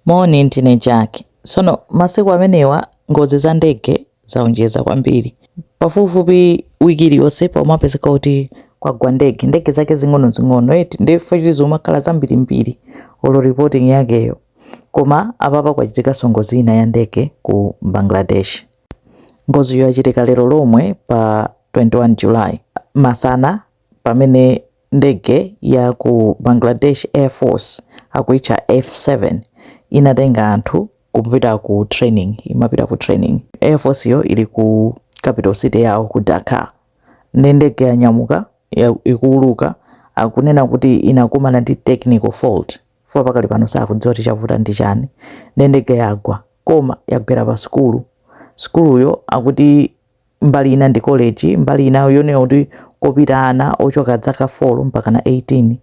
Moni, ndine Jack. Tsono masiku amenewa ngozi za ndege zawonjeza kwambiri. Pafupifupi wiki iliyonse pamapezeka kuti kwagwa ndege, ndege zake zing'onozing'ono eti, ndiye chifukwa choti zikumakhala zambirimbiri, olo reporting yakeyo. Koma apapa kwachitikanso ngozi ina ya ndege ku Bangladesh. Ngoziyo yachitika lero lomwe pa 21 July masana pamene. Ndege ya ku Bangladesh Air Force akuitcha F7 inatenga anthu kupita ku training, imapita ku training. Air Forceyo ili ku capital city yawo ku Dhaka. Nde ndege yanyamuka, ikuuluka akunena kuti inakumana ndi technical fault chifukwa pakali pano sakudziwa kuti chavuta ndi chani. Nde ndege yagwa koma yagwera pa sukulu. Sukuluyo akuti mbali ina ndi college mbali ina yonena kuti kopita ana ochoka dzaka 4 mpakana 18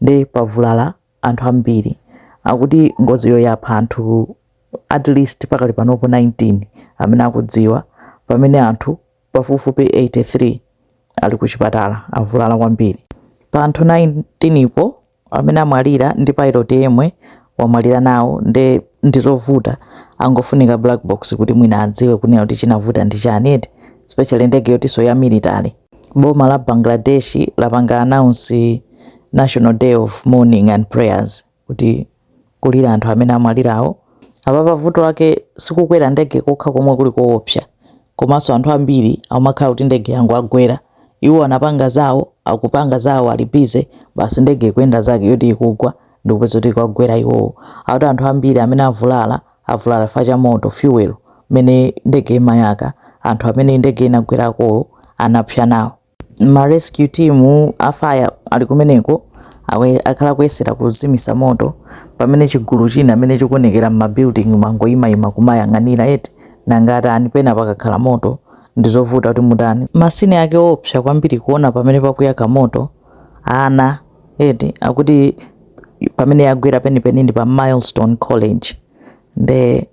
nde pavulala anthu ambiri akuti ngoziyo yapha anthu at least pakali panopo 19 amene akudziwa pamene anthu pafupifupi 83 ali kuchipatala avulala kwambiri pa anthu 19 po amene amwalira ndi pilot yemwe wamwalira nawo nde ndizovuta angofunika black box kuti mwina adziwe kunena kuti chinavuta ndi chani eti especially ndege yotiso ya military boma la Bangladesh lapanga announce national day of mourning and prayers kuti kulira anthu amene amwalirawo. Apapa vuto lake sikukwera ndege kokha komwe kuli koopsa komanso anthu ambiri akumakhala kuti ndege yangowagwera iwo anapanga zawo akupanga zawo ali busy basi ndege ikuyenda zake yoti ikugwa ndikupeza kuti ikuwagwera iwowo akuti anthu ambiri amene avulala avulala chifukwa cha moto fuel mmene ndege imayaka anthu amene ndege inagwerakowo anapsa nawo ma rescue team a fire ali kumeneko akwe- akhala kuyesera kuzimisa moto pamene chigulu china amene chikuonekera mma building mangoyimayima kumayang'anira eti nanga atani pena pakakhala moto ndizovuta kuti mutani ma scene ake oopsa kwambiri kuona pamene pakuyaka moto ana eti akuti pamene yagwera penipeni ndi pa milestone college nde